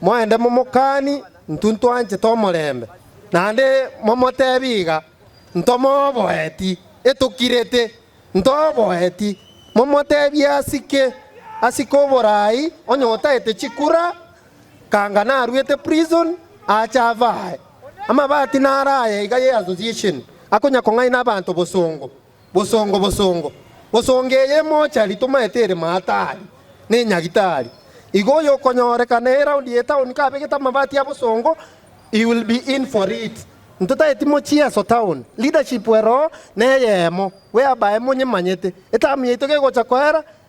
Moende momokani, intwe ntwanchete omorembe, naende momoteebe iga, Ntomoboeti, etokirete. Ntoboeti, momoteebie asike, asike oborai, onye otaete chikura, kanga naruete prison, aache ave aye. Amabati naro aya iga ye association, akonya kong'aina abanto bosongo. Bosongo, bosongo, bosongo eye emochari tomaete ere maatari, na enyagitari. Igo oyokonyorekana eraundi ye town kabegete amabati a bosongo, he will be in for it. Ntotaeti mochie aso town, leadership eroho neyemo, whereby monyemanyete, etamu yaito gegocha koera,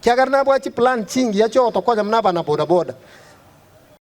Kiagera nabwaa chiplan chingiya chiogotokonya buna abana bodaboda.